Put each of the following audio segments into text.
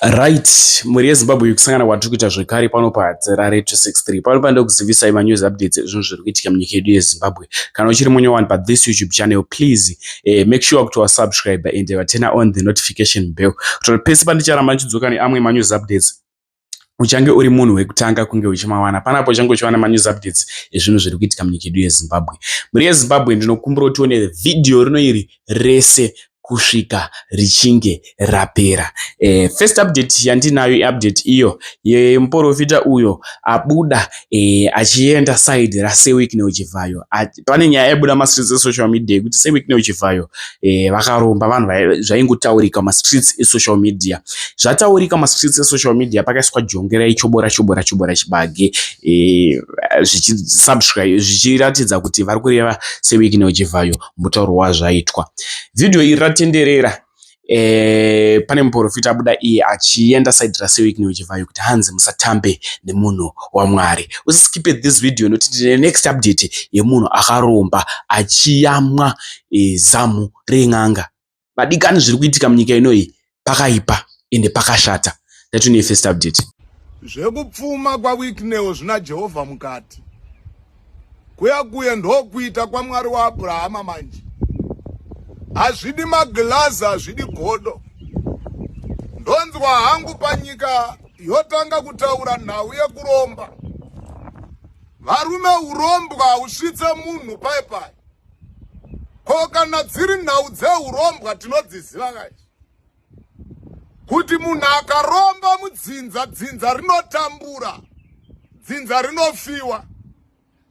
Right, mhuri yeZimbabwe yekusangana kwatiri kuita zvekare pano paHadzirare 263. Pano panoda kuzivisai manews updates ezvinhu zviri kuitika munyika yedu yeZimbabwe. Kana uchiri munye wani pathis YouTube channel, please eh, make sure kuti wasubscribe and waturna on the notification bell. Kuti pese pandicharamba ndichidzoka neamwe manews updates, uchange uri munhu wekutanga kunge uchimawana panapo uchange uchiwana manews updates ezvinhu zviri kuitika munyika yedu yezimbabwe mhuri yezimbabwe ndinokumbira kuti tione vhidhiyo rino iri rese kusvika richinge rapera e, first update yandinayo iupdate iyo yemuporofita uyo abuda e, achienda side rasewikneuchivhayo pane nyaya yaibuda mastreets esocial media yekuti seweekne uchivhayo eh, vakaromba vanhu zvaingotaurika mastreets esocial media zvataurika mastreets esocial media pakaiswa jongera ichobora chobora chobora chibage eh, zvichisubscribe zvichiratidza kuti vari kureva seweekne uchivhayo mutauro wazvaitwa vhidhiyo iri ratenderera e, pane muporofita abuda iye achienda side rasewik neuchivhayo kuti hanzi musatambe nemunhu wamwari usiskipe this video nokuti tine next update yemunhu akaromba achiyamwa e, zamu ren'anga vadikani zviri kuitika munyika inoyi pakaipa ende pakashata tatine first update zvekupfuma kwawickneo zvina jehovha mukati kuya kuya ndokuita kwamwari waabrahama manje hazvidi maglazi hazvidi godo ndonzwa hangu panyika yotanga kutaura nhau yekuromba varume urombwa hausvitse munhu pai pai ko kana dziri nhau dzeurombwa tinodziziva kaizvi kuti munhu akaromba mudzinza dzinza rinotambura dzinza rinofiwa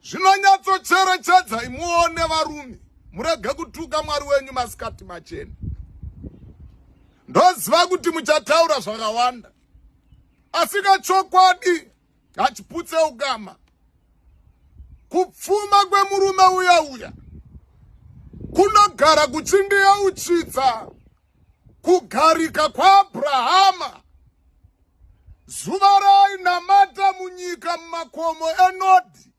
zvinonyatsocherechedza imuone varume murege kutuka mwari wenyu masikati machena ndoziva kuti muchataura zvakawanda asi kachokwadi hachiputse ukama kupfuma kwemurume uya uya kunogara kuchindiyeuchitsa kugarika kwaAbrahama, zuva raainamata munyika mumakomo eNodhi,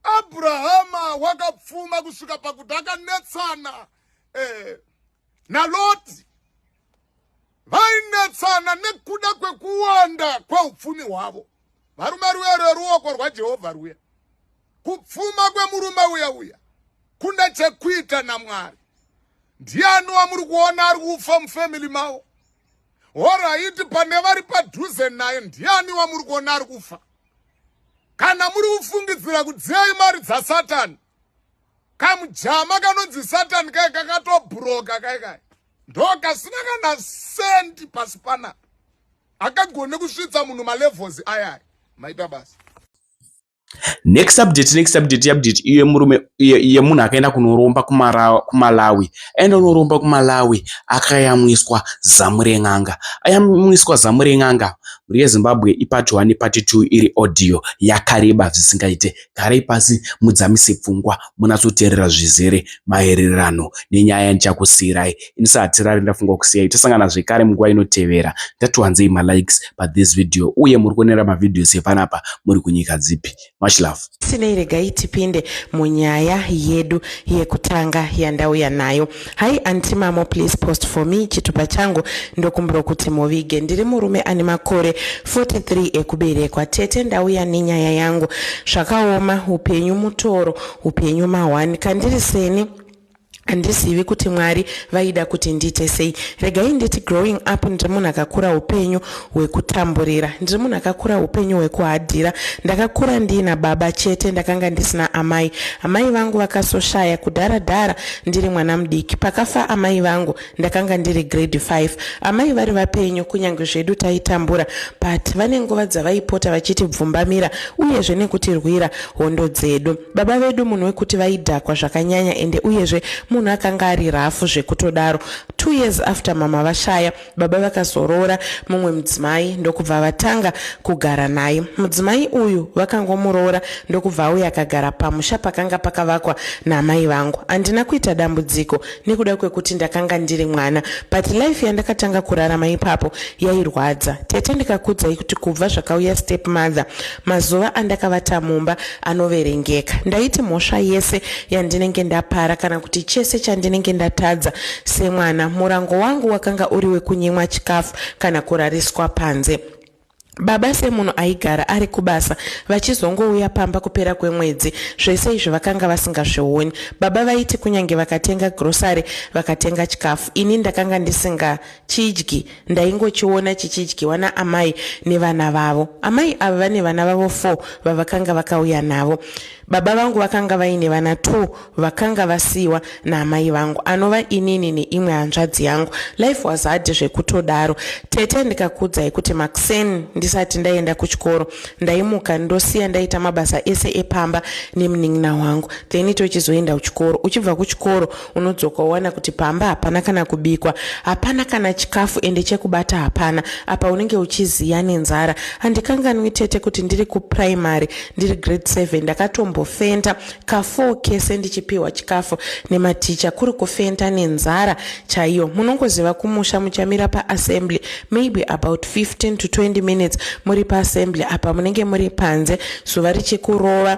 Abrahama wakapfuma kusvika pakuti akanetsana eh, naLoti. Vainetsana nekuda kwekuwanda kweupfumi hwavo. Varume ruya rweruoko rwaJehovha ruya Kupfuma kwemurume uya uya kune chekuita naMwari. Ndiani wamuri kuona ari kufa mufamily mavo? Horaiti pane vari padhuze naye ndiani wamuri kuona ari kufa? Kana muri kufungidzira kudziyai mari dzaSatani, kamujama kanonzi Satani kai kakatobhuroka kai kai ndokasina kana sendi pasi panapa akagone kusvitsa munhu malevels ayaya maita basa next update next update update iye murume iye munhu akaenda kunoromba kumalawi aenda unoromba kumalawi akayamwiswa zamu ren'anga ayamwiswa zamu ren'anga mhuri yezimbabwe ipati one pati two iri audio yakareba zvisingaite garai pasi mudzamise pfungwa munatsoteerera zvizere maererano nenyaya yandichakusiirai Inisa hatirari ndafunga kusiyai tosangana zvekare munguva inotevera. Ndatiwanzei malikes pa this video uye muri kuonera mavideos epanapa muri kunyika dzipi. Much love. Sinei regai tipinde munyaya yedu yekutanga yandauya nayo. Hi anti mamo please post for me chitupa changu ndokumbira kuti muvige. Ndiri murume ane makore 43 ekuberekwa. Tete ndauya nenyaya yangu. Zvakaoma upenyu mutoro upenyu mahwani kandiri seni handizivi kuti mwari vaida kuti ndiite sei regai nditi growing up ndiri munhu akakura upenyu hwekutamburira ndiri munhu akakura upenyu hwekuhadhira ndakakura ndiina baba chete ndakanga ndisina amai amai vangu vakasoshaya kudhara dhara ndiri mwana mudiki pakafa amai vangu Ndakanga ndiri grade 5 amai vari vapenyu kunyange zvedu taitambura but vane nguva dzavaipota vachitibvumbamira uyezve nekutirwira hondo dzedu. Baba vedu munhu wekuti vaidhakwa zvakanyanya ende uyezve munhu akanga ari rafu zvekutodaro. Two years after mama vashaya, baba vakazoroora mumwe mudzimai ndokubva vatanga kugara naye. Mudzimai uyu vakangomuroora ndokubva auya akagara pamusha pakanga pakavakwa naamai vangu. Handina kuita dambudziko nekuda kwekuti ndakanga ndiri mwana but life yandakatanga kurarama ipapo yairwadza tete ndikakudzai kuti kubva zvakauya step mother mazuva andakavata mumba anoverengeka ndaiti mhosva yese yandinenge ndapara kana kuti chese chandinenge ndatadza semwana murango wangu wakanga uri wekunyimwa chikafu kana kurariswa panze Baba semunhu aigara ari kubasa vachizongouya pamba kupera kwemwedzi, zvese izvi vakanga vasingazvioni. Baba vaiti kunyange vakatenga grocery, vakatenga chikafu, ini ndakanga ndisingachidyi, ndaingochiona chichidyiwa naamai nevana vavo. Amai ava vane vana vavo four vavakanga vakauya navo. Baba vangu vakanga vaine vana two vakanga vasiiwa naamai vangu anova inini neimwe hanzvadzi yangu. Life was hard zvekutodaro. Tete ndikakuudzai kuti makuseni ndisati ndaenda kuchikoro ndaimuka ndosiya ndaita mabasa ese epamba nemunin'ina wangu then tochizoenda kuchikoro. Uchibva kuchikoro unodzoka wowana kuti pamba hapana kana kubikwa hapana kana chikafu ende chekubata hapana apa unenge uchiziya nenzara handikanganwi tete kuti ndiri kuprimary ndiri grade 7 ndakatombofenta ka4 kese ndichipiwa chikafu nematicha kuri kufenta nenzara chaiyo munongoziva kumusha muchamira paassembly maybe about 15 to 20 minutes muri paassembly apa munenge muri panze zuva richikurova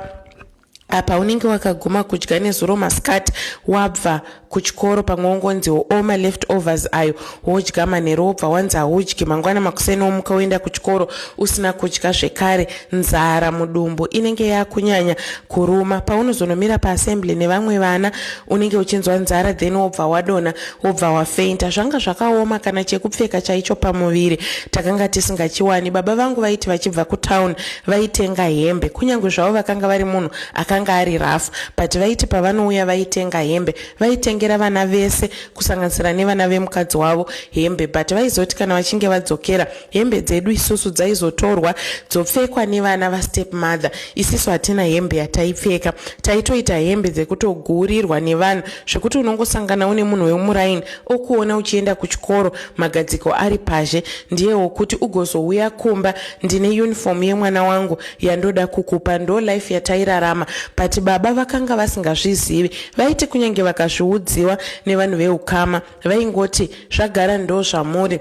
apa unenge wakaguma kudya nezuro masikati wabva kuchikoro pamwe wongonziwo o maleft overs ayo wodya manhero wobva wanzi haudyi mangwana makuseni womuka woenda kuchikoro usina kudya zvekare nzara mudumbu inenge yakunyanya kuruma paunozonomira paassembly nevamwe vana unenge uchinzwa nzara then wobva wadona wobva wafeinta zvanga zvakaoma kana chekupfeka chaicho pamuviri takanga tisingachiwani baba vangu vaiti vachibva kutown vaitenga hembe kunyange zvavo vakanga vari munhu akanga ari rafu but vaiti pavanouya vaitenga hembe vaitengera vana vese kusanganisira nevana vemukadzi wavo hembe but vaizoti kana vachinge vadzokera Hembe dzedu isusu dzaizotorwa dzopfekwa nevana vastep mother. Isisu hatina hembe yataipfeka. Taitoita hembe dzekutoguurirwa nevanhu zvekuti unongosangana une munhu wemuraini okuona uchienda kuchikoro magadziko ari pazhe ndiye wokuti ugozouya kumba ndine uniform yemwana wangu yandoda kukupa ndo life yatairarama but baba vakanga vasingazvizivi vaiti kunyange vakazviudziwa nevanhu veukama vaingoti zvagara ndo zvamuri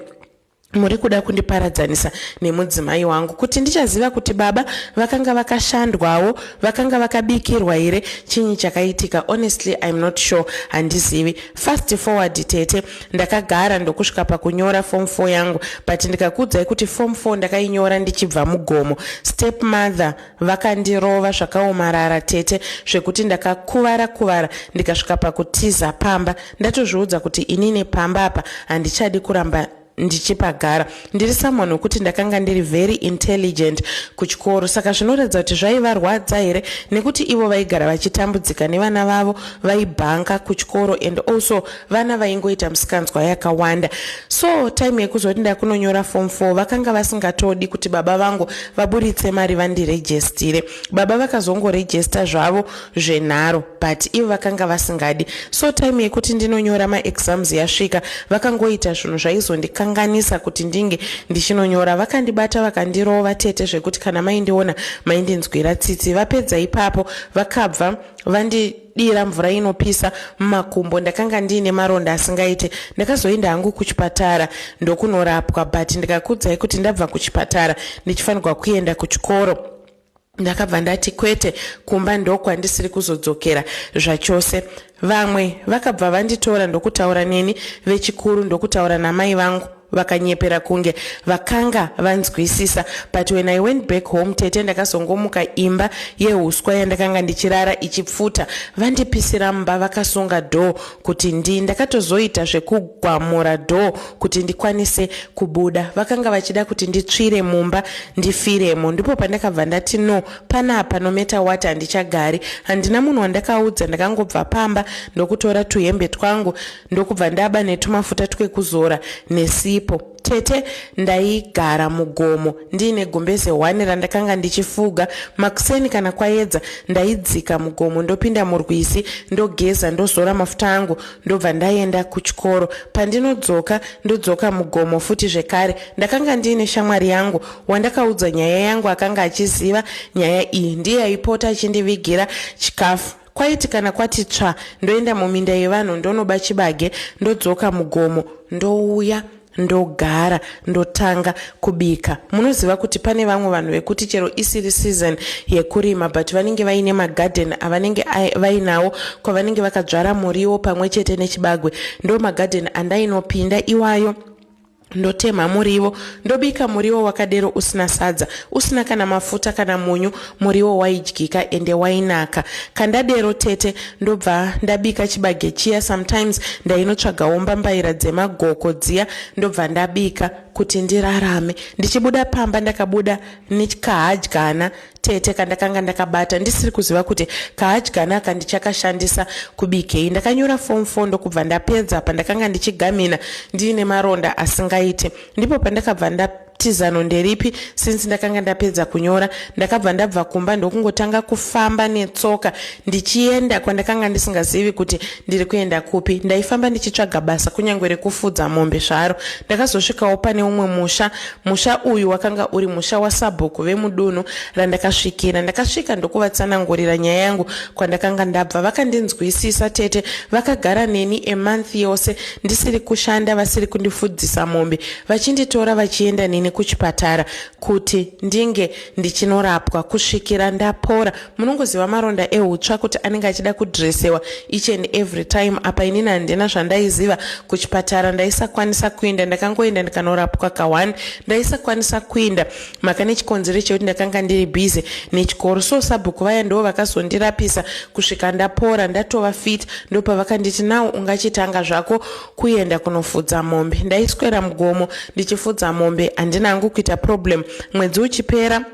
muri kuda kundiparadzanisa nemudzimai wangu kuti ndichaziva kuti baba vakanga vakashandwawo vakanga vakabikirwa here chinyi chakaitika honestly iam not sure handizivi fast forward tete ndakagara ndokusvika pakunyora form four yangu but ndikakuudzai kuti form four ndakainyora ndichibva mugomo step mother Vakandirova zvakaomarara tete zvekuti ndakakuvara kuvara ndikasvika pakutiza pamba ndatozviudza kuti inini pamba apa handichadi kuramba ndichipagara ndiri someone wekuti ndakanga ndiri very intelligent kuchikoro saka zvinoratidza kuti zvaivarwadza here nekuti ivo vaigara vachitambudzika nevana vavo vaibhanka kuchikoro and also vana vaingoita misikanzwa yakawanda so time yekuzoti ndakunonyora form 4 vakanga vasingatodi kuti baba vangu vaburitse mari vandirejestire baba vakazongorejesta zvavo zvenharo but ivo vakanga vasingadi so time yekuti ndinonyora maexams yasvika vakangoita zvinhu zvaizondikanganisa kuti ndinge ndichinonyora vakandibata vakandirova tete zvekuti kana maindiona maindinzwira tsitsi vapedza ipapo vakabva vandi dira mvura inopisa mumakumbo ndakanga ndiine maronda asingaite ndakazoenda hangu kuchipatara ndokunorapwa but ndikakudzai kuti ndabva kuchipatara ndichifanirwa kuenda kuchikoro ndakabva ndati kwete kumba ndokwandisiri kuzodzokera zvachose vamwe vakabva vanditora ndokutaura neni vechikuru ndokutaura namai vangu vakanyepera kunge vakanga vanzwisisa but when i went back home tete ndakazongomuka imba yehuswa yandakanga ndichirara ichipfuta vandipisira mba vakasunga door kuti ndi ndakatozoita zvekugwamura door kuti ndikwanise kubuda vakanga vachida kuti nditsvire mumba ndifiremo ndipo pandakabva ndati no panapa nometa wat handichagari handina munhu wandakaudza ndakangobva pamba ndokutora tuhembe twangu ndokubva ndaba netumafuta twekuzora nesipo tete ndaigara mugomo ndiine gumbeze hwani randakanga ndichifuga makuseni kana kwayedza ndaidzika mugomo ndopinda murwizi ndogeza ndozora mafuta angu ndobva ndaenda kuchikoro pandinodzoka ndodzoka mugomo futi zvekare ndakanga ndiine shamwari yangu wandakaudza nyaya yangu akanga achiziva nyaya iyi ndiye aipota achindivigira chikafu Kwaiti kana kwati tsva ndoenda muminda yevanhu ndonoba chibage ndodzoka mugomo ndouya ndogara ndotanga kubika munoziva kuti pane vamwe vanhu vekuti chero isiri season yekurima but vanenge vaine magarden avanenge vainawo kwavanenge vakadzvara muriwo pamwe chete nechibagwe ndo magarden andainopinda iwayo ndotemha muriwo ndobika muriwo wakadero usina sadza usina kana mafuta kana munyu muriwo waidyika ende wainaka kandadero tete ndobva ndabika chibage chiya sometimes ndainotsvagawo mbambaira dzemagoko dziya ndobva ndabika kuti ndirarame ndichibuda pamba ndakabuda nekahadyana tete kandakanga ndakabata ndisiri kuziva kuti kahadyana aka ndichakashandisa kubikei ndakanyora fom 4 ndokubva ndapedza pandakanga ndichigamhina ndiine maronda asingaiti ndipo pandakabva nda tizano nderipi since ndakanga ndapedza kunyora ndakabva ndabva kumba ndokungotanga kufamba netsoka ndichienda kwandakanga ndisingazivi kuti ndiri kuenda kupi ndaifamba ndichitsvaga basa kunyange rekufudza mombe zvaro ndakazosvikawo pane umwe musha Musha uyu wakanga uri musha wasabhuku vemudunhu randakasvikira. Ndakasvika ndokuvatsanangurira nyaya yangu kwandakanga ndabva. Vakandinzwisisa tete vakagara neni a month yose ndisiri kushanda vasiri kundifudzisa mombe vachinditora vachienda neni kuchipatara kuti ndinge ndichinorapwa kusvikira ndapora. Munongoziva maronda ehutsva kuti anenge achida kudressewa each and every time apa inini handina zvandaiziva kuchipatara ndaisakwanisa kuinda ndakangoenda ndikanorapwa ka one ndaisakwanisa kuinda maka nechikonzero chekuti ndakanga ndiri busy nechikoro so sabhuku vaya ndoo vakazondirapisa kusvika ndapora ndatova fit ndopavakanditi now ungachitanga zvako kuenda kunofudza mombe ndaiswera mugomo ndichifudza mombe handina hangu kuita problem mwedzi uchipera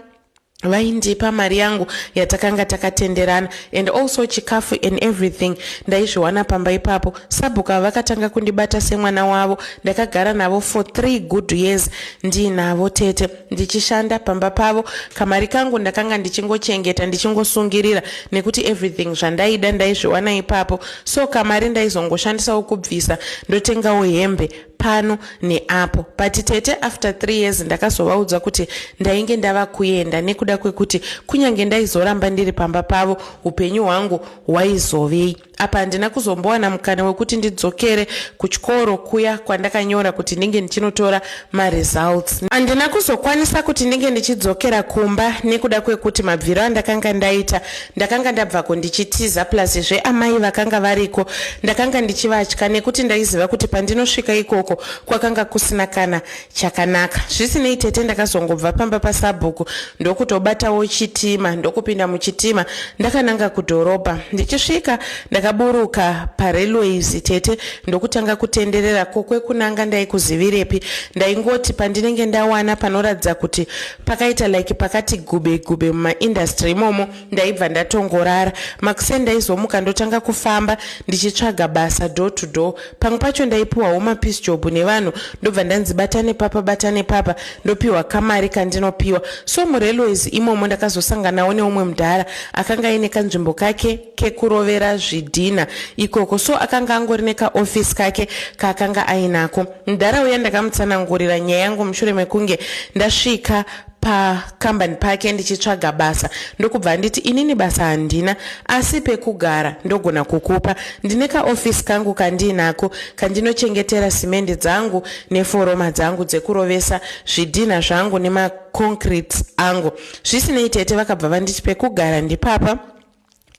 vaindipa mari yangu yatakanga takatenderana and also chikafu and everything ndaizviwana pamba ipapo sabhuku ava vakatanga kundibata semwana wavo ndakagara navo for three good years ndiinavo tete ndichishanda pamba pavo kamari kangu ndakanga ndichingochengeta ndichingosungirira nekuti everything zvandaida ndaizviwana ipapo so kamari ndaizongoshandisawo kubvisa ndotengawo hembe pano neapo but tete after three years ndakazovaudza kuti ndainge ndava kuenda nekuda kwekuti kunyange ndaizoramba ndiri pamba pavo upenyu hwangu hwaizovei apa handina kuzombowana mukana wekuti ndidzokere kuchikoro kuya kwandakanyora kuti ndinge ndichinotora maresults handina kuzokwanisa kuti ndinge ndichidzokera kumba nekuda kwekuti mabviro andakanga ndaita Ndakanga ndabvako ndichitiza plus zve amai vakanga variko ndakanga ndichivatya nekuti ndaiziva kuti pandinosvika ikoko kwakanga kusina kana chakanaka. Zvisinei tete ndakazongobva pamba pasabhuku ndokutobatawo chitima ndokupinda muchitima ndakananga kudhorobha. Ndichisvika ndakaburuka parailways tete ndokutanga kutenderera kokwekunanga ndaikuzivirepi ndaingoti pandinenge ndawana panoratidza kuti pakaita like pakati gube gube mumaindustry imomo ndaibva ndatongorara makuseni ndaizomuka ndotanga kufamba ndichitsvaga basa door to door pamwe pacho ndaipiwawo mapeace job nevanhu ndobva ndanzi bata nepapa bata nepapa ndopiwa kamari kandinopiwa so murailways imomo ndakazosanganawo neumwe mudhara akanga aine kanzvimbo kake kekurovera zvidhina ikoko so akanga angori nekaofisi kake kaakanga ainako Mdhara uya ndakamutsanangurira nyaya yangu mushure mekunge ndasvika pakambani pake ndichitsvaga basa ndokubva anditi inini basa handina asi pekugara ndogona kukupa ndine kaofisi kangu kandiinako kandinochengetera simendi dzangu neforoma dzangu dzekurovesa zvidhinha zvangu nemaconcrete angu zvisinei tete vakabva vanditi pekugara ndipapa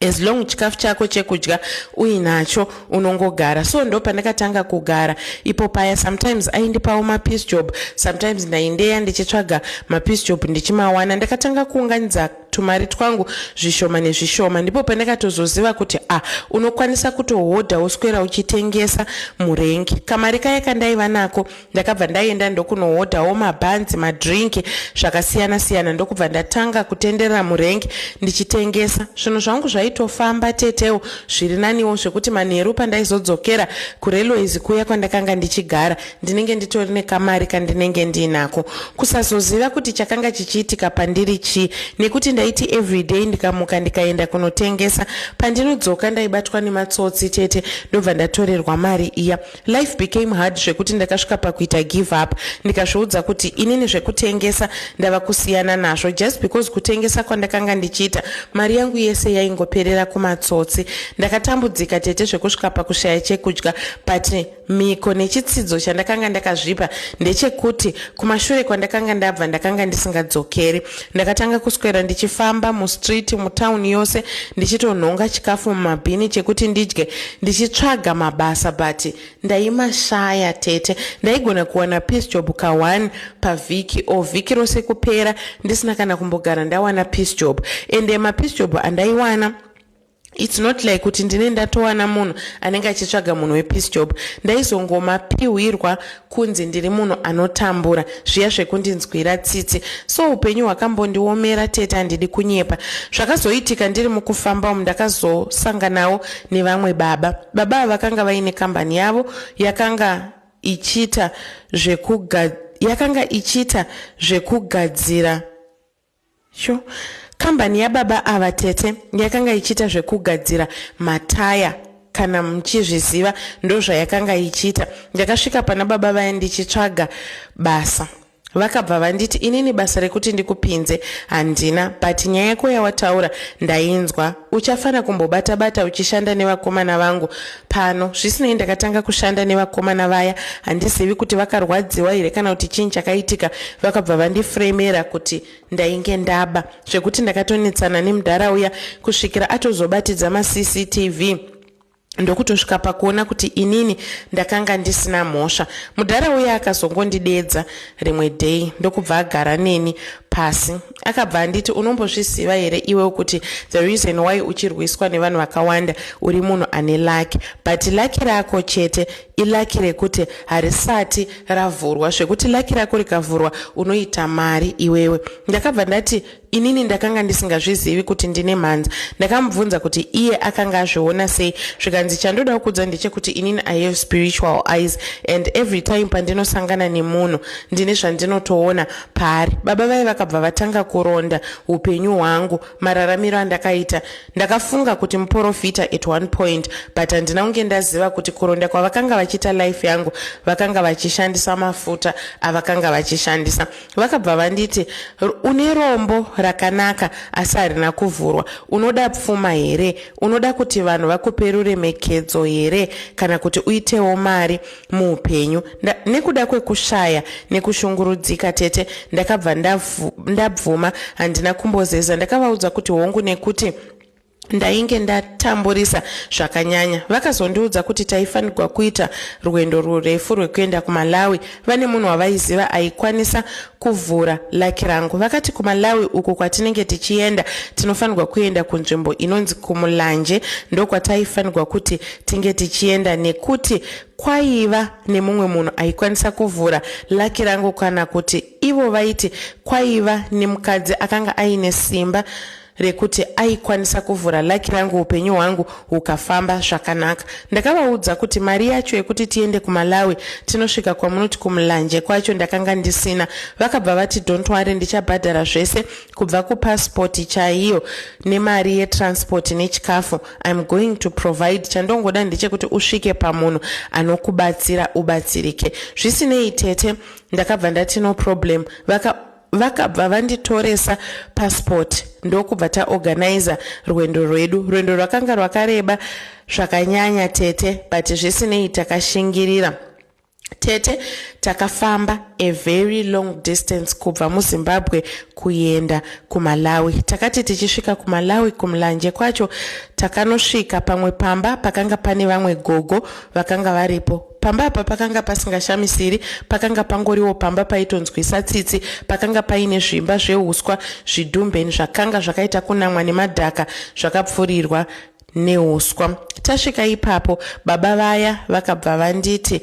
as long chikafu chako chekudya uinacho unongogara so ndo pandakatanga kugara ipo paya sometimes aindipawo mapiece job sometimes ndaindeya ndichitsvaga mapiece job ndichimawana ndakatanga kuunganidza tumari twangu zvishoma nezvishoma ndipo pandakatozoziva kuti a ah, unokwanisa kutohodha woswera uchitengesa murengi kamari kaya kandaiva nako ndakabva ndaenda ndokunohodhawo mabhanzi madrink zvakasiyana siyana ndokubva ndatanga kutenderera murengi ndichitengesa zvinhu zvangu zvaitofamba tetewo zviri naniwo zvekuti manheru pandaizodzokera kurailways kuya kwandakanga ndichigara ndinenge nditori nekamari kandinenge ndiinako kusazoziva kuti chakanga chichiitika pandiri chii nekuti ndaiti everyday ndikamuka ndikaenda kunotengesa pandinodzoka ndaibatwa nematsotsi tete ndobva ndatorerwa mari iya Life became hard zvekuti ndakasvika pakuita give up ndikazviudza kuti inini zvekutengesa ndava kusiyana nazvo just because kutengesa kwandakanga ndichiita mari yangu yese yaingoperera kumatsotsi. Ndakatambudzika tete zvekusvika pakushaya chekudya but miko nechitsidzo chandakanga ndakazvipa ndechekuti kumashure kwandakanga ndabva ndakanga ndisingadzokeri. Ndakatanga kuswera ndichifamba mustreet mutown yose ndichitonhonga chikafu mumabhini chekuti ndidye ndichitsvaga mabasa but ndaimashaya tete. Ndaigona kuwana piece job ka one pavhiki or vhiki rose kupera ndisina kana kumbogara ndawana piece job ende mapiece job andaiwana its not like kuti ndine ndatowana munhu anenge achitsvaga munhu wepeace job ndaizongomapihwirwa kunzi ndiri munhu anotambura zviya zvekundinzwira tsitsi so upenyu hwakambondiomera tete handidi kunyepa zvakazoitika ndiri mukufamba umu ndakazosanganawo nevamwe baba baba ava vakanga vaine kambani yavo yakanga ichiita zvekuga yakanga ichiita zvekugadzira Sho, kambani yababa ava tete yakanga ichiita zvekugadzira mataya kana muchizviziva ndozvayakanga ichiita ndakasvika pana baba vaya ndichitsvaga basa vakabva vanditi inini basa rekuti ndikupinze handina but nyaya yako yawataura ndainzwa uchafana kumbobata bata uchishanda nevakomana vangu Pano, zvisinei ndakatanga kushanda nevakomana vaya, handizivi kuti vakarwadziwa here kana kuti chii chakaitika, vakabva vandifremera kuti ndainge ndaba, zvekuti ndakatonetsana nemudhara uya kusvikira atozobatidza maCCTV ndokutosvika pakuona kuti inini ndakanga ndisina mhosva mudhara uya akazongondidedza rimwe day ndokubva agara neni pasi akabva anditi unombozviziva here iwe kuti the reason why uchirwiswa nevanhu vakawanda uri munhu ane laki but laki rako chete ilaki rekuti harisati ravhurwa zvekuti laki rako rikavhurwa unoita mari iwewe ndakabva ndati inini ndakanga ndisingazvizivi kuti ndine mhanza ndakamubvunza kuti iye akanga azviona sei zvikanzi chandoda kukudza ndechekuti inini i have spiritual eyes and every time pandinosangana nemunhu ndine zvandinotoona paari baba vaye vakabva vatanga kuronda upenyu hwangu mararamiro andakaita ndakafunga kuti muporofita at one point but handina kunge ndaziva kuti kuronda kwavakanga vachiita life yangu vakanga vachishandisa mafuta avakanga vachishandisa vakabva vanditi une rombo rakanaka asi harina kuvhurwa unoda pfuma here unoda kuti vanhu vakupe ruremekedzo here kana kuti uitewo mari muupenyu nda, nekuda kwekushaya nekushungurudzika tete ndakabva ndabvuma handina kumbozeza ndakavaudza kuti hongu nekuti ndainge ndatamburisa zvakanyanya vakazondiudza kuti taifanirwa kuita rwendo rurefu rwekuenda kumalawi vane munhu wavaiziva aikwanisa kuvhura laki rangu vakati kumalawi uko kwatinenge tichienda tinofanirwa kuenda kunzvimbo inonzi kumulanje ndokwataifanirwa kuti tinge tichienda nekuti kwaiva nemumwe munhu aikwanisa kuvhura laki rangu kana kuti ivo vaiti kwaiva nemukadzi akanga aine simba rekuti aikwanisa kuvhura laki rangu upenyu hwangu hukafamba zvakanaka ndakavaudza kuti mari yacho yekuti tiende kumalawi tinosvika kwamunoti kumulanje kwacho ndakanga ndisina vakabva vati don't wari ndichabhadhara zvese kubva kupasipoti chaiyo nemari yetransport nechikafu im going to provide chandongoda ndechekuti usvike pamunhu anokubatsira ubatsirike zvisinei tete ndakabva ndati no problem vaka vakabva vanditoresa passport ndokubva taorganiza rwendo rwedu rwendo rwakanga rwakareba zvakanyanya tete but zvisinei takashingirira tete takafamba a very long distance kubva muzimbabwe kuenda kumalawi takati tichisvika kumalawi kumlanje kwacho takanosvika pamwe pamba pakanga pane vamwe gogo vakanga varipo Pamba apa pakanga pasingashamisiri, pakanga pangoriwo pamba paitonzwisa tsitsi, pakanga paine zvimba zveuswa, zvidumben zvakanga zvakaita kunamwa nemadhaka zvakapfurirwa neuswa. Tasvika ipapo, baba vaya vakabva vanditi,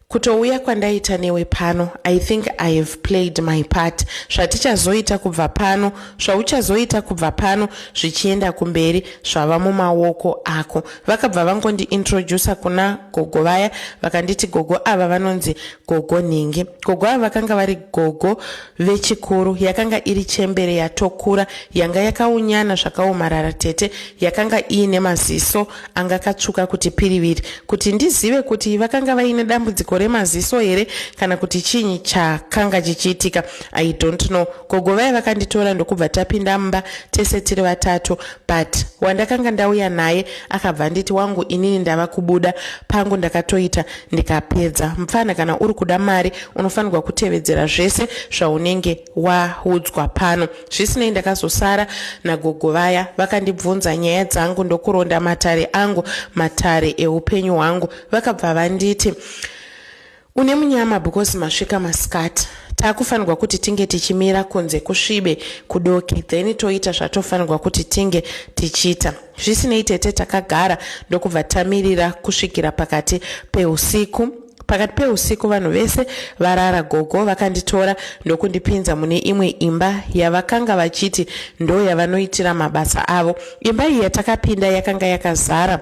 kutouya kwandaita newe pano i think i have played my part zvatichazoita kubva pano zvauchazoita kubva pano zvichienda kumberi zvava mumaoko ako Vakabva vangondi introducer kuna gogo vaya vakanditi gogo ava vanonzi gogo nhingi. Gogo ava vakanga vari gogo vechikuru yakanga iri chembere yatokura yanga yakaunyana zvakaomarara tete yakanga iine maziso anga katsvuka kuti piriviri kuti ndizive kuti vakanga vaine dambudziko remaziso here kana kuti chinyi chakanga chichiitika I don't know. Gogo vaya vakanditora ndokubva tapinda mumba tese tiri vatatu but wandakanga ndauya naye akabva anditi wangu inini ndava kubuda pangu ndakatoita ndikapedza mupfana kana uri kuda mari unofanirwa kutevedzera zvese zvaunenge waudzwa pano zvisinei ndakazosara nagogo vaya vakandibvunza nyaya dzangu ndokuronda matare angu matare eupenyu hwangu vakabva vanditi Une munyama because masvika masikati. Takufanirwa kuti tinge tichimira kunze kusvibe kudoke then toita zvatofanirwa kuti tinge tichiita. Zvisinei tete takagara ndokubva tamirira kusvikira pakati peusiku. Pakati peusiku vanhu vese varara gogo vakanditora ndokundipinza mune imwe imba yavakanga vachiti ndo yavanoitira mabasa avo. Imba iyi yatakapinda yakanga yakazara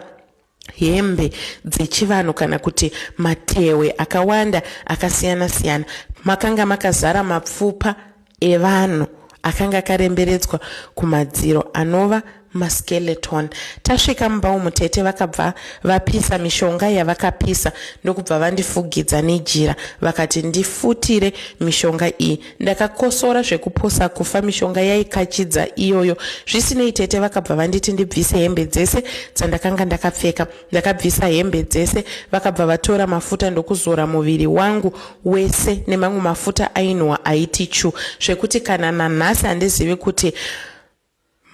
hembe dzechivanhu kana kuti matehwe akawanda akasiyana siyana makanga makazara mapfupa evanhu akanga akaremberedzwa kumadziro anova maskeleton tasvika mumba umu tete vakabva vapisa mishonga yavakapisa ndokubva vandifugidza nejira vakati ndifutire mishonga iyi Ndakakosora zvekupusa kufa mishonga yaikachidza iyoyo. Zvisinei tete vakabva vanditi ndibvise hembe dzese dzandakanga ndakapfeka. Ndakabvisa hembe dzese vakabva vatora mafuta ndokuzora muviri wangu wese nemamwe mafuta ainhuwa aiti chu zvekuti kana nanhasi handizivi kuti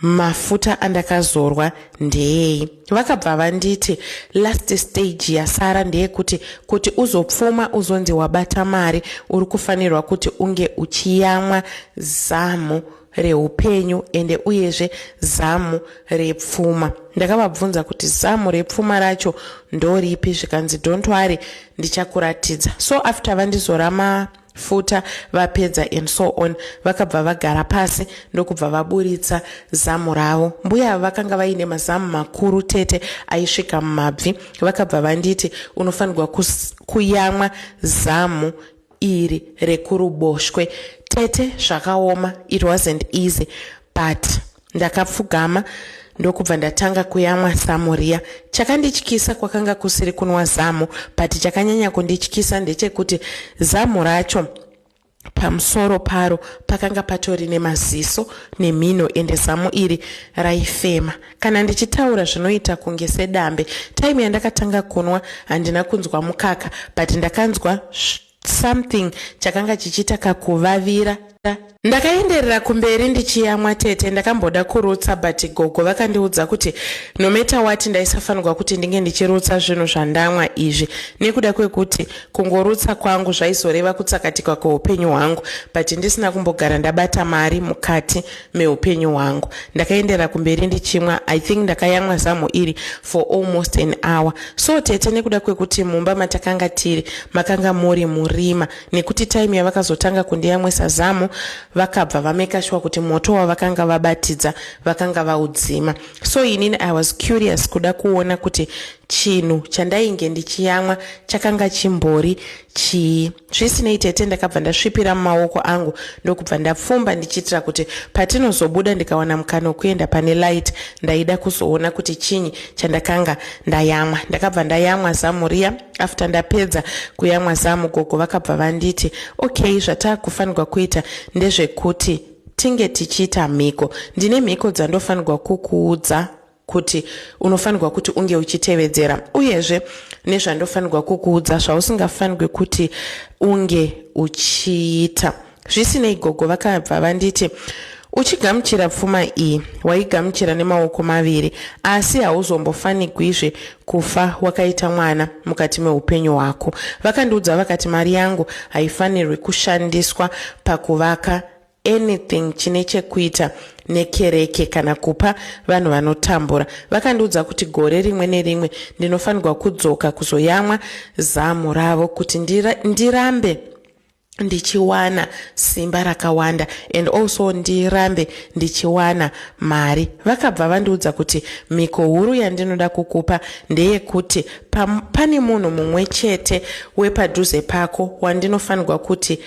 Mafuta andakazorwa ndeei? Vakabva vanditi last stage yasara ndeyekuti kuti uzopfuma uzonzi wabata mari uri kufanirwa kuti unge uchiyamwa zamu reupenyu ende uyezve zamu repfuma. Ndakavabvunza kuti zamu repfuma racho ndoripi zvikanzi don't worry ndichakuratidza. So after vandizora ma futa vapedza and so on vakabva vagara pasi ndokubva vaburitsa zamu ravo mbuya ava vakanga vaine mazamu makuru tete aisvika mumabvi vakabva vanditi unofanirwa kuyamwa zamu iri rekuruboshwe tete zvakaoma it wasn't easy but Ndakapfugama ndokubva ndatanga kuyamwa zamu riya. Chakandityisa kwakanga kusiri kunwa zamu but chakanyanya kundityisa ndechekuti zamu racho pamusoro paro pakanga patori nemaziso nemhino ende zamu iri raifema kana ndichitaura zvinoita kunge sedambe time yandakatanga kunwa handina kunzwa mukaka but ndakanzwa something chakanga chichiita kakuvavira. Ndakaenderera kumberi ndichiyamwa tete ndakamboda kurutsa but gogo vakandiudza kuti no matter what ndaisafanirwa kuti ndinge ndichirutsa zvinhu zvandamwa izvi nekuda kwekuti kungorutsa kwangu zvaizoreva kutsakatikwa kweupenyu hwangu but ndisina kumbogara ndabata mari mukati meupenyu hwangu ndakaendera kumberi ndichimwa i think ndakayamwa zamu iri for almost an hour so tete nekuda kwekuti mumba matakanga tiri makanga muri murima nekuti time yavakazotanga kundiyamwisa zamu vakabva vamekashwa kuti moto wavakanga vabatidza vakanga vaudzima so inini i was curious kuda kuona kuti chinhu chandainge ndichiyamwa chakanga chimbori chii Zvisinei tete ndakabva ndasvipira mumaoko angu ndokubva ndapfumba ndichiitira kuti patinozobuda ndikawana mukana wekuenda pane light ndaida kuzoona kuti chinyi chandakanga ndayamwa. Ndakabva ndayamwa zamu riya after ndapedza kuyamwa zamu gogo vakabva vanditi okay zvataakufanirwa kuita ndezvekuti tinge tichiita mhiko. Ndine mhiko dzandofanirwa kukuudza kuti unofanirwa kuti unge uchitevedzera uyezve nezvandofanirwa kukuudza zvausingafanirwe kuti unge uchiita zvisinei gogo vakabva vanditi uchigamuchira pfuma iyi waigamuchira nemaoko maviri asi hauzombofanigwizve kufa wakaita mwana mukati meupenyu hwako vakandiudza vakati mari yangu haifanirwi kushandiswa pakuvaka anything chine chekuita nekereke kana kupa vanhu vanotambura. Vakandiudza kuti gore rimwe nerimwe ndinofanirwa kudzoka kuzoyamwa zamu ravo kuti ndira, ndirambe ndichiwana simba rakawanda and also ndirambe ndichiwana mari vakabva vandiudza kuti mhiko huru yandinoda kukupa ndeyekuti pane munhu mumwe chete wepadhuze pako wandinofanirwa kuti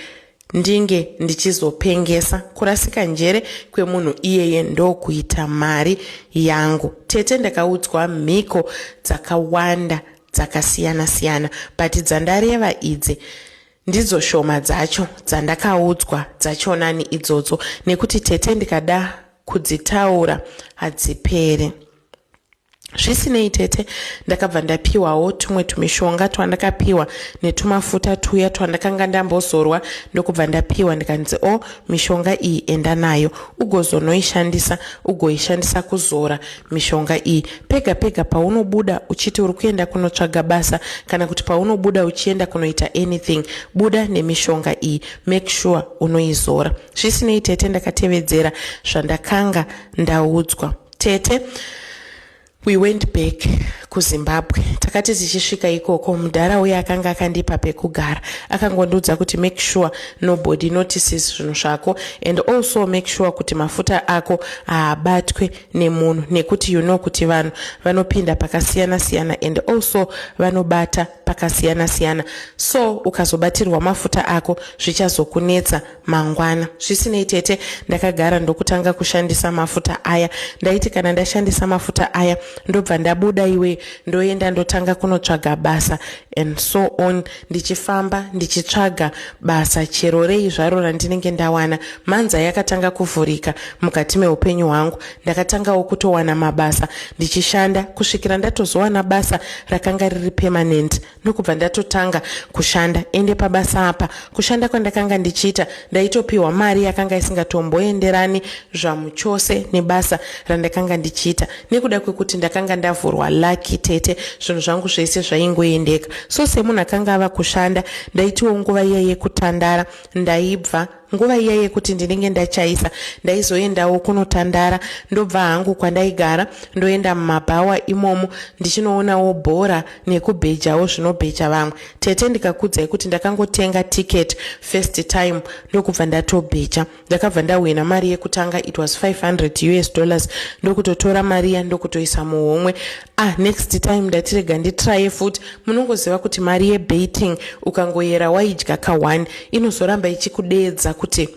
ndinge ndichizopengesa kurasika njere kwemunhu iyeye ndokuita mari yangu tete ndakaudzwa mhiko dzakawanda dzakasiyana siyana but dzandareva idzi ndidzo shoma dzacho dzandakaudzwa dzachonani idzodzo nekuti tete ndikada kudzitaura hadzipere zvisinei tete ndakabva ndapiwawo tumwe tumishonga twandakapiwa netumafuta tuya twandakanga ndambozorwa ndokubva ndapiwa ndikanzi o oh, mishonga iyi enda nayo ugozonoishandisa ugoishandisa kuzora mishonga iyi pega pega paunobuda uchiti uri kuenda kunotsvaga basa kana kuti paunobuda uchienda kunoita anything buda nemishonga iyi make sure unoizora zvisinei tete ndakatevedzera zvandakanga ndaudzwa tete we went back kuzimbabwe takati tichisvika ikoko mudhara uye akanga akandipa pekugara akangondiudza kuti make sure nobody notices zvinhu zvako and also make sure kuti mafuta ako haabatwe nemunhu nekuti you know kuti vanhu vanopinda pakasiyana siyana and also vanobata pakasiyana siyana so ukazobatirwa mafuta ako zvichazokunetsa mangwana zvisinei tete ndakagara ndokutanga kushandisa mafuta aya ndaiti kana ndashandisa mafuta aya ndobva ndabuda iwe ndoenda ndotanga kunotsvaga basa and so on ndichifamba ndichitsvaga basa chero rei zvaro randinenge ndawana manza yakatanga kuvhurika mukati meupenyu hwangu ndakatangawo kutowana mabasa ndichishanda kusvikira ndatozowana basa rakanga riri permanent ndokubva ndatotanga kushanda ende pabasa apa kushanda kwandakanga ndichiita ndaitopiwa mari yakanga isingatomboenderani zvamuchose nebasa randakanga ndichiita nekuda kwekuti ndakanga ndavhurwa lucky tete zvinhu zvangu zvese zvaingoendeka so semunhu akanga ava kushanda ndaitiwo nguva iya yekutandara ndaibva Nguva iya yekuti ndinenge ndachaisa ndaizoendawo kunotandara ndobva hangu kwandaigara ndoenda mumabhawa imomo ndichinoonawo bhora nekubhejawo zvinobheja vamwe. Tete ndikakudzai kuti ndakangotenga ticket first time ndokubva ndatobheja. Ndakabva ndahwina mari yekutanga it was 500 us dollars ndokutotora mariya ndokutoisa muhomwe ah next time ndatirega nditraye futi munongoziva kuti mari yebaiting ukangoyera waidya ka one inozoramba ichikudeedza kuti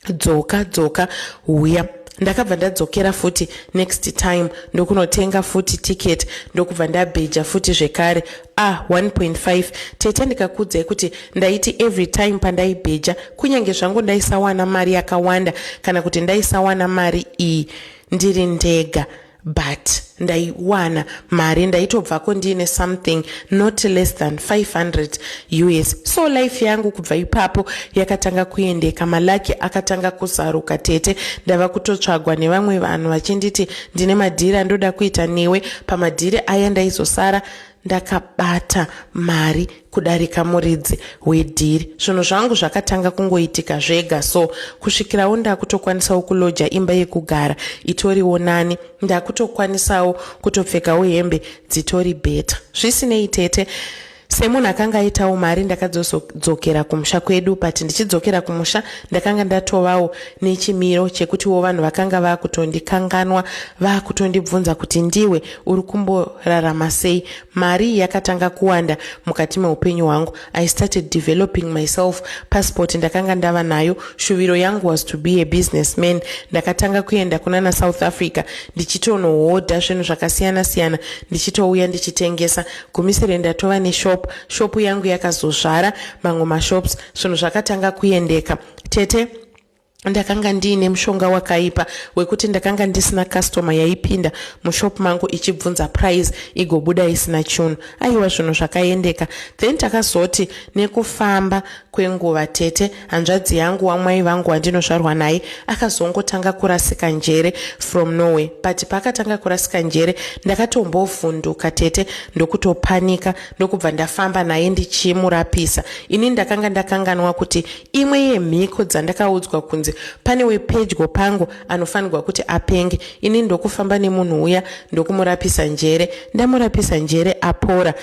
dzoka dzoka huya ndakabva ndadzokera futi next time ndokunotenga futi ticket ndokubva ndabheja futi zvekare ah 1.5 tete ndikakudzai kuti ndaiti every time pandaibheja kunyange zvangu ndaisawana mari yakawanda kana kuti ndaisawana mari iyi ndiri ndega but ndaiwana mari ndaitobvako ndiine something not less than 500 us so life yangu kubva ipapo yakatanga kuendeka malaki akatanga kuzaruka tete ndava kutotsvagwa nevamwe vanhu vachinditi ndine madhiri andoda kuita newe pamadhiri aya ndaizosara ndakabata mari kudarika muridzi wedhiri zvinhu zvangu zvakatanga kungoitika zvega so kusvikirawo ndakutokwanisawo kuloja imba yekugara itoriwo nani ndakutokwanisawo kutopfekawo hembe dzitori bheta zvisinei tete semunhu akanga aitawo mari ndakadzozodzokera kumusha kwedu but ndichidzokera kumusha ndakanga ndatovawo nechimiro chekutiwo vanhu vakanga vakutondikanganwa vakutondibvunza kuti ndiwe uri kumborarama sei mari yakatanga kuwanda mukati meupenyu hwangu i started developing myself passport ndakanga ndava nayo shuviro yangu was to be a business man ndakatanga kuenda kunana south africa ndichitonohodha zvinhu zvakasiyana siyana ndichitouya ndichitengesa gumisire ndatova neshop shopu yangu yakazozvara mamwe mashops zvinhu zvakatanga kuendeka tete ndakanga ndiine mushonga wakaipa wekuti ndakanga ndisina customer yaipinda mushop mangu ichibvunza price igobuda isina chunu aiwa zvinhu zvakaendeka then takazoti nekufamba kwenguva tete hanzvadzi yangu wamwai vangu wandinozvarwa naye akazongotanga kurasika njere from norway but paakatanga kurasika njere ndakatombovhunduka tete ndokutopanika ndokubva ndafamba naye ndichimurapisa ini ndakanga ndakanganwa kuti Imwe yemhiko dzandakaudzwa kunzi pane wepedyo pangu anofanirwa kuti apenge ini ndokufamba nemunhu uya ndokumurapisa njere. Ndamurapisa njere apora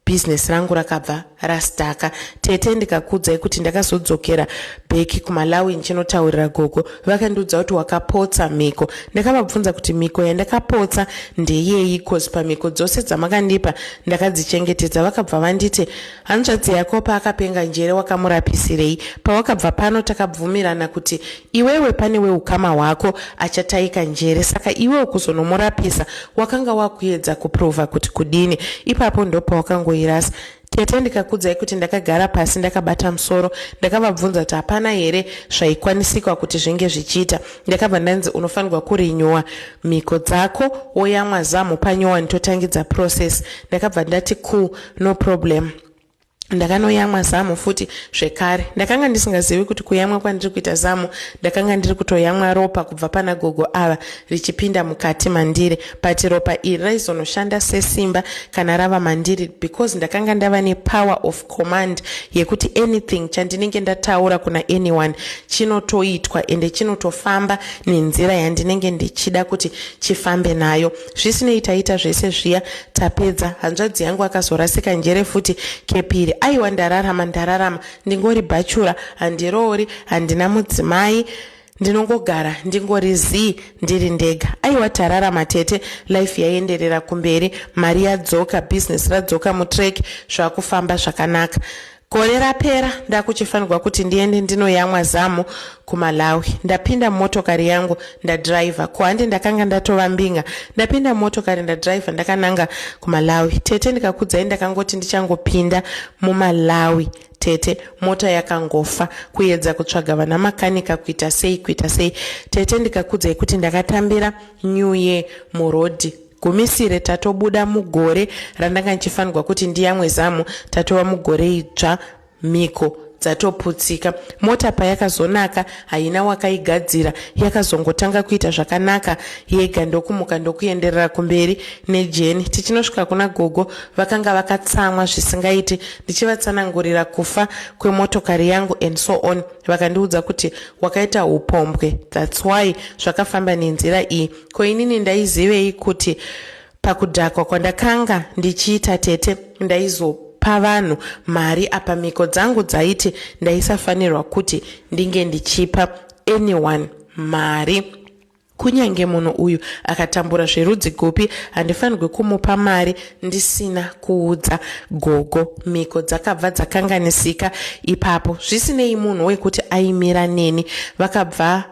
business rangu rakabva rastaka tete ndikakudzai kuti ndakazodzokera beki kumalawi ndichinotaurira gogo vakandiudza kuti wakapotsa mhiko ndakavabvunza kuti mhiko yandakapotsa ndeyeyi cause pamhiko dzose dzamakandipa ndakadzichengetedza vakabva vanditi Hanzvadzi yako paakapenga njere wakamurapisirei? Pawakabva pano takabvumirana kuti iwewe pane weukama hwako achataika njere saka iwe ukuzonomurapisa wakanga wakuedza kuprova kuti kudini? Ipapo ndopawakangoirasa tete ndikakudzai kuti ndakagara pasi ndakabata musoro ndakavabvunza kuti hapana here zvaikwanisikwa kuti zvinge zvichiita ndakabva ndanzi unofanirwa kurinyuwa mhiko dzako woyamwa zamhu panyowani totangidza process ndakabva ndati cool no problem ndakanoyamwa zamu futi zvekare ndakanga ndisingazivi kuti kuyamwa kwandiri kuita zamu ndakanga ndiri kutoyamwa ropa kubva pana gogo ava richipinda mukati mandiri but ropa iri raizonoshanda sesimba kana rava mandiri because ndakanga ndava nepower of command yekuti anything chandinenge ndataura kuna anyone chinotoitwa ende chinotofamba nenzira yandinenge ndichida kuti chifambe nayo Zvisinei taita zvese zviya tapedza. Hanzvadzi yangu akazorasika njere futi kepiri. Aiwa ndararama ndararama ndingori bhachura handiroori handina mudzimai ndinongogara ndingori zii ndiri ndega aiwa tararama tete life yaienderera kumberi mari yadzoka business radzoka mutrack zvakufamba zvakanaka Gore rapera ndakuchifanirwa kuti ndiende ndinoyamwa zamu kumalawi ndapinda mumotokari yangu ndadriver ko handi ndakanga ndatova mbinga ndapinda mumotokari ndadriver ndakananga kumalawi tete ndikakudzai ndakangoti ndichangopinda mumalawi tete mota yakangofa kuyedza kutsvaga vana makanika kuita sei kuita sei tete ndikakudzai kuti ndakatambira new year murodhi Gumisire tatobuda mugore randanga ndichifanirwa kuti ndiyamwe zamu tatova mugore idzva mhiko dzatoputsika mota payakazonaka haina wakaigadzira yakazongotanga kuita zvakanaka yega ndokumuka ndokuenderera kumberi nejeni tichinosvika kuna gogo vakanga vakatsamwa zvisingaiti ndichivatsanangurira kufa kwemotokari yangu and so on vakandiudza kuti wakaita upombwe thats why zvakafamba nenzira iyi Ko inini ndaizivei kuti pakudhakwa kwandakanga ndichiita tete ndaizopa vanhu mari apa mhiko dzangu dzaiti ndaisafanirwa kuti ndinge ndichipa anyone mari kunyange munhu uyu akatambura zverudzi gupi handifanirwe kumupa mari ndisina kuudza gogo mhiko dzakabva dzakanganisika ipapo zvisinei munhu wekuti aimira neni vakabva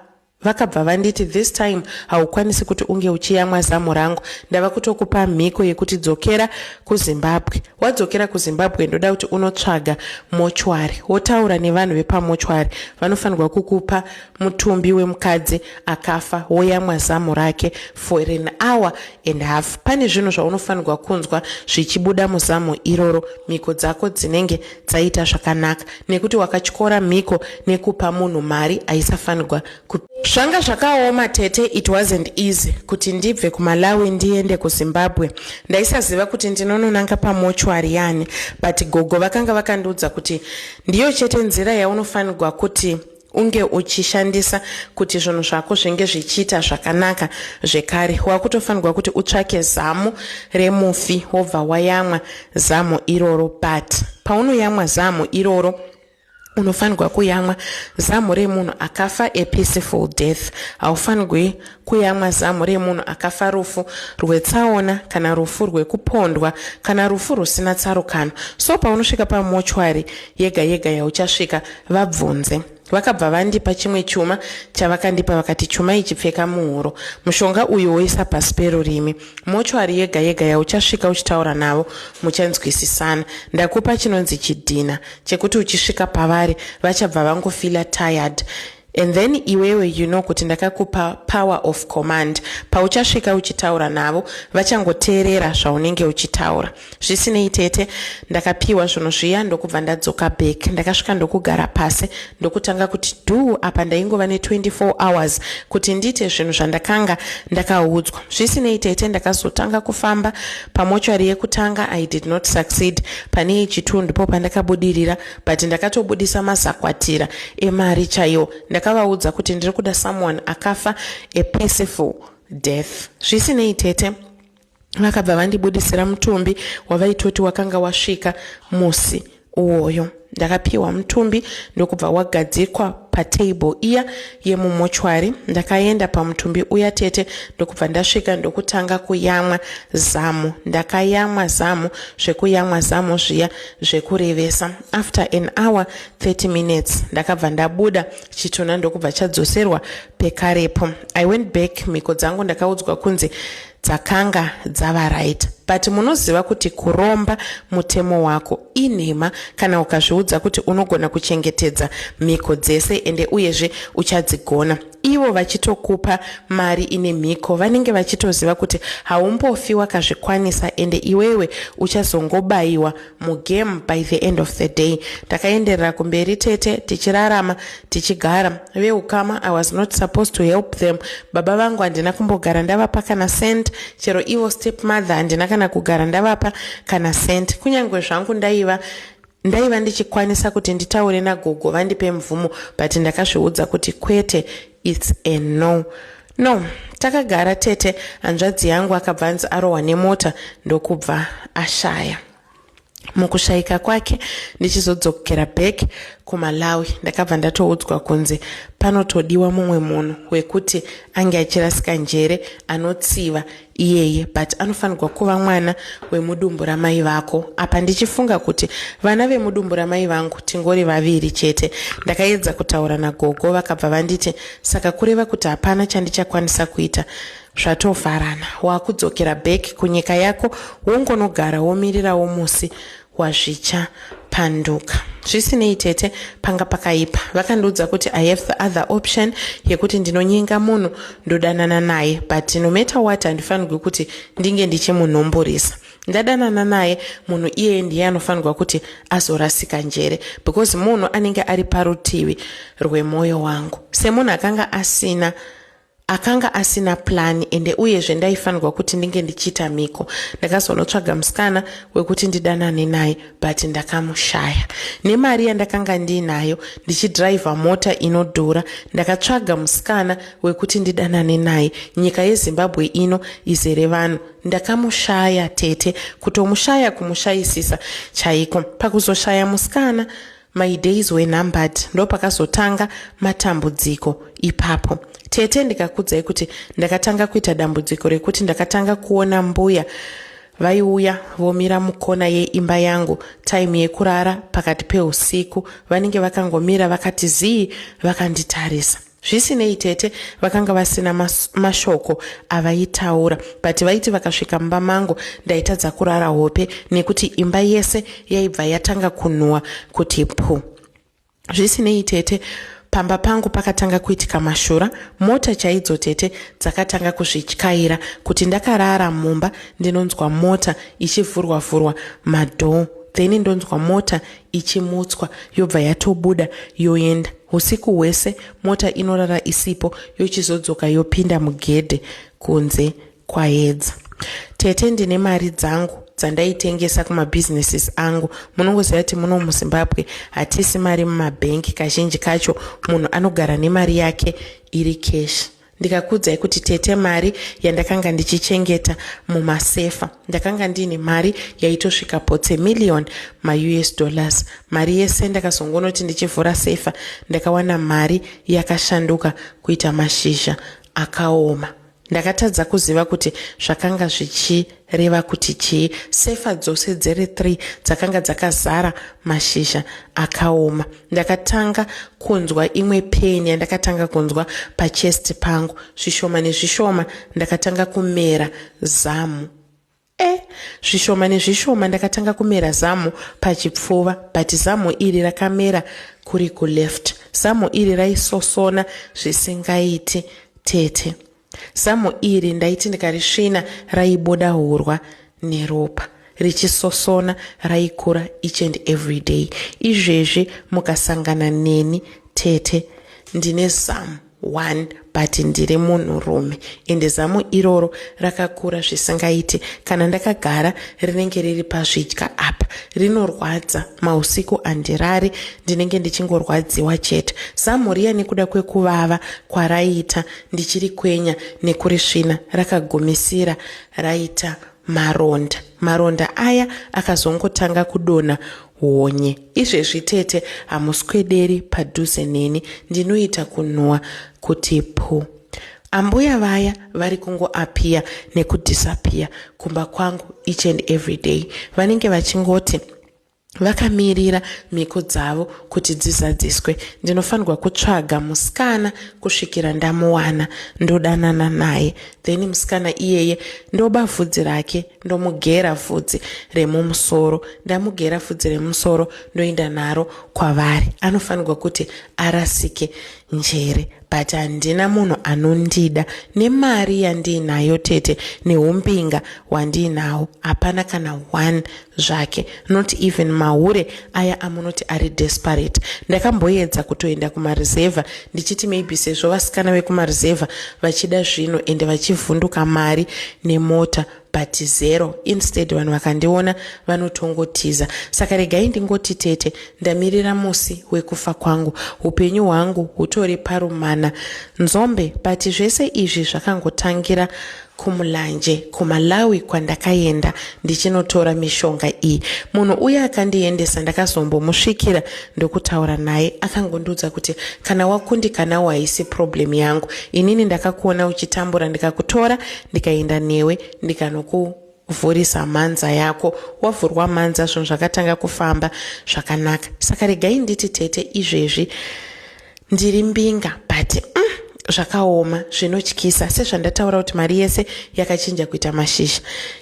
Vakabva vanditi this time haukwanisi kuti unge uchiyamwa zamu rangu ndava kutokupa mhiko yekuti dzokera kuzimbabwe wadzokera kuzimbabwe ndoda kuti unotsvaga mochwari wotaura nevanhu vepamochwari vanofanirwa kukupa mutumbi wemukadzi akafa woyamwa zamu rake for an hour and half pane zvinhu zvaunofanirwa kunzwa zvichibuda muzamu iroro mhiko dzako dzinenge dzaita zvakanaka nekuti wakatyora mhiko nekupa munhu mari aisafanirwa zvanga zvakaoma tete it wasn't easy kuti ndibve kumalawi ndiende kuzimbabwe ndaisaziva kuti ndinononanga pamochwari yani but gogo vakanga vakandiudza kuti ndiyo chete nzira yaunofanirwa kuti unge uchishandisa kuti zvinhu zvako zvinge zvichiita zvakanaka zvekare wakutofanirwa kuti utsvake zamu remufi wobva wayamwa zamu iroro but paunoyamwa zamu iroro unofanirwa kuyamwa zamu remunhu akafa a peaceful death haufanirwi Kuyamwa zamu remunhu akafa rufu rwetsaona kana rufu rwekupondwa kana rufu rusina tsarukano. So paunosvika pamochwari yega yega yauchasvika, vabvunze. Vakabva vandipa chimwe chuma chavakandipa vakati chuma ichi pfeka muhuro. Mushonga uyu woisa pasi perurimi. Mochwari yega yega yauchasvika uchitaura navo muchanzwisisana. Ndakupa chinonzi chidhina chekuti uchisvika pavari vachabva vangofila tired. And then iwewe you know kuti ndakakupa power of command pauchasvika uchitaura navo vachangoteerera zvaunenge uchitaura zvisinei tete ndakapiwa zvinhu zviya ndokubva ndadzoka back ndakasvika ndokugara pasi ndokutanga kuti du apa ndaingova ne24 hours kuti ndiite zvinhu zvandakanga ndakaudzwa zvisinei tete ndakazotanga kufamba pamochari yekutanga i did not succeed pane yechitu ndipo pandakabudirira but ndakatobudisa mazakwatira emari chaiwo ndakavaudza kuti ndiri kuda someone akafa a peaceful death zvisinei tete vakabva vandibudisira mutumbi wavaitoti wakanga wasvika musi uwoyo ndakapiwa mutumbi ndokubva wagadzikwa patable iya yemumochwari ndakaenda pamutumbi uya tete ndokubva ndasvika ndokutanga kuyamwa zamu ndakayamwa zamu zvekuyamwa zamu zviya zvekurevesa after an hour 30 minutes ndakabva ndabuda chitunha ndokubva chadzoserwa pekarepo i went back mhiko dzangu ndakaudzwa kunzi dzakanga dzava right but munoziva kuti kuromba mutemo wako inhema kana ukazviudza kuti unogona kuchengetedza mhiko dzese ende uyezve uchadzigona ivo vachitokupa mari ine mhiko vanenge vachitoziva kuti haumbofi wakazvikwanisa ende iwewe uchazongobayiwa mugame by the end of the day takaenderera kumberi tete tichirarama tichigara veukama i was not supposed to help them baba vangu handina kumbogara ndavapa kana cent chero ivo step mother handina kana kugara ndavapa kana cent kunyange zvangu ndaiva Ndaiva ndichikwanisa kuti nditaure nagogo vandipe mvumo but ndakazviudza kuti kwete its a no no takagara tete hanzvadzi yangu akabva anzi arohwa nemota ndokubva ashaya mukushaika kwake ndichizodzokera back kumalawi ndakabva ndatoudzwa kunzi panotodiwa mumwe munhu wekuti ange achirasika njere anotsiva iyeye but anofanirwa kuva mwana wemudumbu ramai vako apa ndichifunga kuti vana vemudumbu ramai vangu tingori vaviri chete ndakaedza kutaura nagogo vakabva vanditi saka kureva kuti hapana chandichakwanisa kuita zvatovharana wakudzokera back kunyika yako wongonogara womirirawo musi wazvicha panduka zvisinei tete panga pakaipa vakandiudza kuti i have the other option yekuti ndinonyenga munhu ndodanana naye but no matter what handifanirwi kuti ndinge ndichimunhumburisa ndadanana naye munhu iyeye ndiye anofanirwa kuti azorasika njere because munhu anenge ari parutivi rwemwoyo wangu semunhu akanga asina Akanga asina plan ende uyezve ndaifanirwa kuti ndinge ndichiita mhiko. Ndakazonotsvaga musikana wekuti ndidanane naye but ndakamushaya. Nemari yandakanga ndiinayo ndichidriver mota inodhura ndakatsvaga musikana wekuti ndidanane naye. Nyika yeZimbabwe ino izere vanhu. Ndakamushaya tete. Kutomushaya kumushayisisa chaiko. Pakuzoshaya musikana My days were numbered ndopakazotanga matambudziko ipapo tete ndikakudzai kuti ndakatanga kuita dambudziko rekuti ndakatanga kuona mbuya vaiuya vomira mukona yeimba yangu taimu yekurara pakati peusiku vanenge vakangomira vakati zii vakanditarisa Zvisinei tete vakanga vasina mas, mashoko avaitaura but vaiti vakasvika mumba mangu ndaitadza kurara hope nekuti imba yese yaibva yatanga kunhuwa kuti pu. Zvisinei tete pamba pangu pakatanga kuitika mashura mota chaidzo tete dzakatanga kuzvityaira kuti ndakarara mumba ndinonzwa mota ichivhurwa vhurwa madhoo then ndonzwa mota ichimutswa yobva yatobuda yoenda Husiku hwese mota inorara isipo yochizodzoka yopinda mugedhe kunze kwaedza. Tete ndine mari dzangu dzandaitengesa kumabusinesses angu munongoziva kuti muno muzimbabwe hatisi mari mumabhenki kazhinji kacho munhu anogara nemari yake iri keshi Ndikakuudzai kuti tete mari yandakanga ndichichengeta mumasefa ndakanga ndiine mari yaitosvika potse million maus dollars mari yese ndakazongonoti ndichivhura sefa ndakawana mari yakashanduka kuita mashizha akaoma ndakatadza kuziva kuti zvakanga zvichii Reva kuti chii? Sefa dzose dziri three dzakanga dzakazara mashizha akaoma. Ndakatanga kunzwa imwe pain yandakatanga kunzwa pachest pangu. Zvishoma nezvishoma ndakatanga kumera zamu. E, zvishoma nezvishoma ndakatanga kumera zamu pachipfuva but zamu iri rakamera kuri kuleft. Zamu iri raisosona zvisingaiti tete. Zamu iri ndaiti ndikarisvina raibuda hurwa neropa richisosona raikura each and every day. Izvezvi mukasangana neni tete ndine zamu one but ndiri munhurume ende zamu iroro rakakura zvisingaiti. Kana ndakagara rinenge riri pazvidya apa rinorwadza mausiku handirari ndinenge ndichingorwadziwa chete. Zamu riya nekuda kwekuvava kwaraiita ndichirikwenya nekurisvina rakagumisira raita maronda maronda aya akazongotanga kudonha honye izvezvi tete hamuswederi padhuze neni ndinoita kunhuwa kuti pu ambuya vaya vari kungoapiya nekudhisapiya kumba kwangu each and every day vanenge vachingoti vakamirira mhiko dzavo kuti dzizadziswe ndinofanirwa kutsvaga musikana kusvikira ndamuwana ndodanana naye then musikana iyeye ndoba vhudzi rake ndomugera vhudzi remumusoro ndamugera vhudzi remumusoro ndoenda naro kwavari anofanirwa kuti arasike njere but handina munhu anondida nemari yandiinayo tete neumbinga hwandiinawo hapana kana one zvake not even mahure aya amunoti ari desperate ndakamboedza kutoenda kumarizevha ndichiti maybe sezvo vasikana vekumarizevha vachida zvinhu ende vachivhunduka mari nemota but zero instead vanhu vakandiona vanotongotiza saka regai ndingoti tete ndamirira musi wekufa kwangu upenyu hwangu hutori parumana nzombe but zvese izvi zvakangotangira kumulanje kumalawi kwandakaenda ndichinotora mishonga iyi munhu uye akandiendesa ndakazombomusvikira ndokutaura naye akangondiudza kuti kana wakundikanawo haisi problem yangu inini ndakakuona uchitambura ndikakutora ndikaenda newe ndikanoku Vhurisa mhanza yako. Wavhurwa mhanza zvinhu zvakatanga kufamba zvakanaka. Saka regai nditi tete izvezvi ndiri mbinga but mm, zvakaoma zvinotyisa sezvandataura kuti mari yese yakachinja kuita mashizha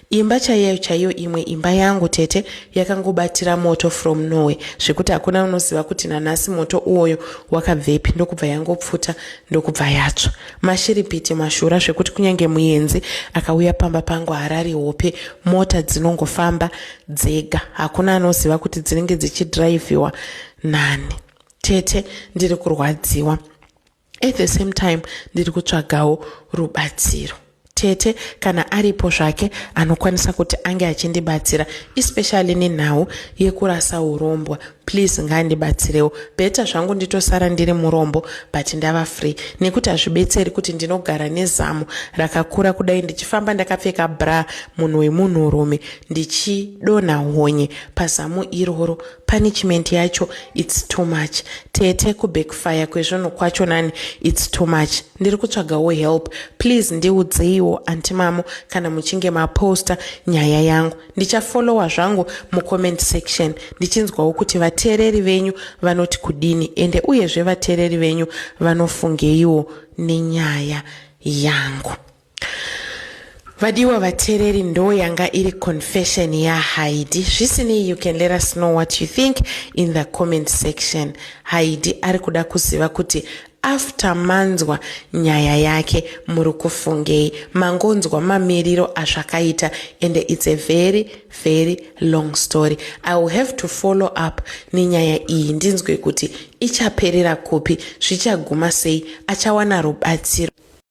imba chaiyo chaiyo imwe imba yangu tete yakangobatira moto from norway zvekuti hakuna unoziva kuti nanhasi moto uwoyo wakabvepi ndokubva yangopfuta ndokubva yatsva Mashiripiti mashura zvekuti kunyange muyenzi akauya pamba pangu harari hope mota dzinongofamba dzega hakuna anoziva kuti dzinenge dzichidhiraivhiwa nani tete ndiri kurwadziwa at the same time ndiri kutsvagawo rubatsiro tete kana aripo zvake anokwanisa kuti ange achindibatsira especially nenhau yekurasa urombwa please ngaandibatsirewo beta zvangu nditosara ndiri murombo but ndava free nekuti hazvibetseri kuti ndinogara nezamu rakakura kudai ndichifamba ndakapfeka bra munhu wemunhurume ndichidonha honye pazamu iroro punishment yacho its too much tete kubackfire kwezvinhu kwacho nani its too much Ndiri kutsvagawo help please ndiudzeiwo anti mamo kana muchinge maposta nyaya yangu ndichafollowa zvangu mucomment section ndichinzwawo kuti vateereri venyu vanoti kudini ende uyezve vateereri venyu vanofungeiwo nenyaya yangu. Vadiwa vatereri ndo yanga iri confession yaHaidi. Zvisinei you can let us know what you think in the comment section. Haidi ari kuda kuziva kuti after manzwa nyaya yake muri kufungei mangonzwa mamiriro azvakaita and it's a very very long story i will have to follow up nenyaya iyi ndinzwe kuti ichaperera kupi zvichaguma sei achawana rubatsiro